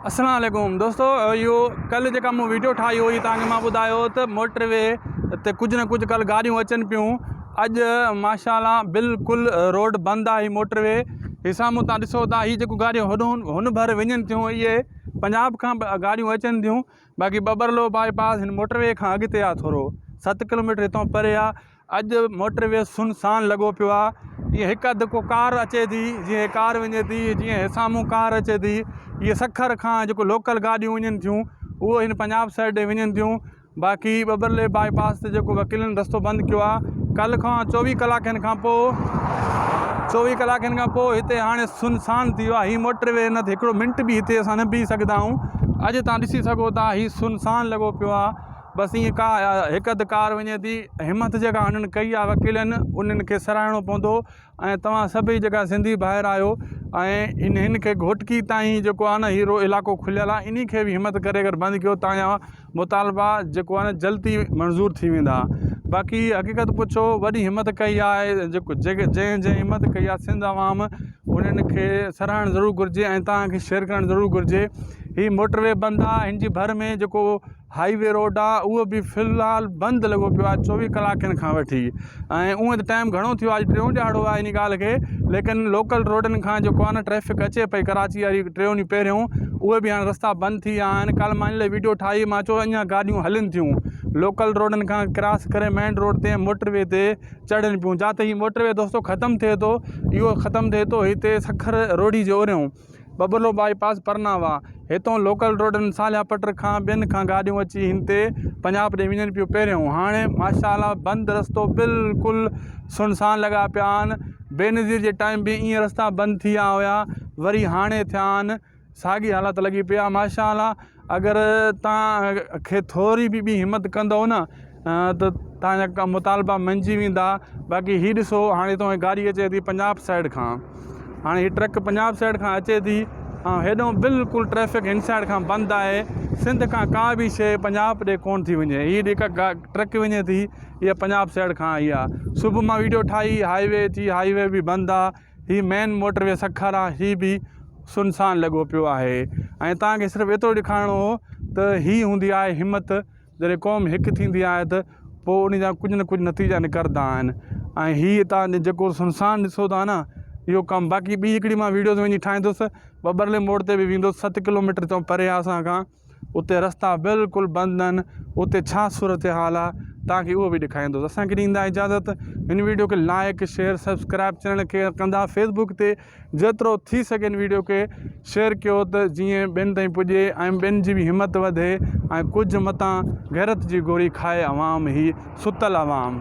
السلام عليڪم دوستو اهو ڪل جيڪا مون ويڊيو ٺاهي هئي توهان کي مان ٻڌايو هو ته موٽر وي تي ڪجهه نه ڪجهه ڪل گاڏيون اچن پيون اڄ ماشا الله بلڪل روڊ بند آهي هي موٽر وي هي سامهون تان ڏسو ٿا هي جيڪو گاڏيون هن هن ڀر وڃن ٿيون اهي پنجاب کان گاڏيون اچن ٿيون باقي ٻٻرلو باء پاس هن موٽر وي کان اڳتي آهي ٿورو ست ڪلوميٽر هتان پري آهي اڄ موٽر وي سن سان لڳو پيو آ جيئن هڪ اڌ ڪو ڪار اچي ٿي جيئن ڪار وڃي ٿي جيئن هيسامون ڪار اچي ٿي جيئن سکر کان جيڪو لوڪل گاڏيون وڃن ٿيون اهو هن پنجاب سائيڊ ڏي وڃن ٿيون باقي ٻٻرلي باء پاس تي جيڪو وڪيلن رستو بند ڪيو آ ڪل کان چوويهه ڪلاڪن کان پوء چوويهه ڪلاڪن کان پوء هتي هاڻي سنسان ٿي ويو آ هي موٽر وي نه هڪڙو منٽ به هتي اسان نه بيهي سگهندا آهيون اڄ تان ڏسي سگهو ٿا هي سنسان لڳو پيو آ بس ائين ڪا هڪ اڌ ڪار وڃي ٿي همٿ جيڪا هنن ڪئي آهي وڪيلن انهن کي سراهڻو پوندو ۽ توهان سڀئي جيڪا سنڌي ڀائر آهيو ۽ انهن کي گهوٽڪي تائين جيڪو آهي نه هي رو علاقو کليل آهي انهي کي به همٿ ڪري اگر بند ڪيو تان جا مطالبا جيڪو آهي نه جلدي منظور ٿي ويندا باقي حقيقت پڇو وڏي همٿ ڪئي آهي جيڪو جنهن جنهن همٿ ڪئي آهي سنڌ عوام انهن کي سراهڻ ضرور گهرجي ۽ توهان کي شيئر ڪرڻ ضرور گهرجي هي موٽر وي بند آهي هن جي ڀر ۾ جيڪو هاء وي روڊ آ اهو به في الحال بند لڳو پيو آ چوويهه ڪلاڪن کان وٺي ۽ اونئن ته ٽائيم گهڻو ٿيو آ اڄ ٽيون ڏهاڙو آ انهي ڳالهه کي ليڪن لوڪل روڊن کان جيڪو آ نه ٽريفڪ اچي پئي ڪراچي واري ٽيون ڏينهن پهريون اهي به هاڻ رستا بند ٿي ويا آهن ڪالهه مان ان لاء ويڊيو ٺاهي مان چيو اڃان گاڏيون هلن ٿيون لوڪل روڊن کان ڪراس ڪري مين روڊ تي موٽر وي تي چڙهن پيون جاته هي موٽر وي دوستو ختم ٿئي ٿو اهو ختم ٿئي ٿو هتي سکر روهڙي جي اوريون ٻٻلو بائي پاس پرناوا هتئون لوڪل روڊن صالحه پٽ کان ٻين کان گاڏيون اچي هن تي پنجاب ڏي وڃن پيون پهريون هاڻي ماشا الله بند رستو بلڪل سنسان لڳا پيا آهن بينظير جي ٽائيم به ايئن رستا بند ٿيا هيا وري هاڻي ٿيا آهن ساڳي حالت لڳي پئي آهي ماشا الله اگر توهان کي ٿوري به ٻي همت ڪندؤ نه ته توهان جا مطالبا مڃجي ويندا باقي هي ڏسو هاڻي توهان جي گاڏي اچي ٿي پنجاب سائيڊ کان هاڻي هي ٽرڪ پنجاب سائيڊ کان اچي ٿي ۽ هيڏانهن بلڪل ٽريفڪ هن سائيڊ کان بند آهي سنڌ کان ڪا به شيء پنجاب ڏي ڪونه ٿي وڃي هي جيڪا ٽرڪ وڃي ٿي اها پنجاب سائيڊ کان آئي آهي صبح مان ويڊيو ٺاهي هاء وي جي هاء وي به بند آهي هي مين موٽر وي سکارا هي به سنسان لڳو پيو آهي ۽ توهان کي صرف ايترو ڏيکارڻو هو ته هي هوندي آهي همت جڏهن قوم هڪ ٿيندي آهي ته پوء ان جا ڪجهه نه ڪجهه نتيجا نڪرندا آهن ۽ هي توهان جيڪو سنسان ڏسو ٿا نه اهو ڪم باقي ٻي هڪڙي مان ويڊيوز وڃي ٺاهيندس ٻٻرلي موڙ تي به ويندس ست ڪلوميٽر تائين پري آهي اسان کان اتي رستا بلڪل بند آهن اتي ڇا صورتحال آهي توهان کي اهو به ڏيکاريندس اسان کي ڏيندا اجازت هن ويڊيو کي لائڪ شيئر سبسڪرائب چينل کي ڪندا فيسبوڪ تي جيترو ٿي سگهي هن ويڊيو کي شيئر ڪيو ته جيئن ٻين تائين پڄي ۽ ٻين جي به همت وڌي ۽ ڪجهه متان غيرت جي گوري کائي عوام هي ستل عوام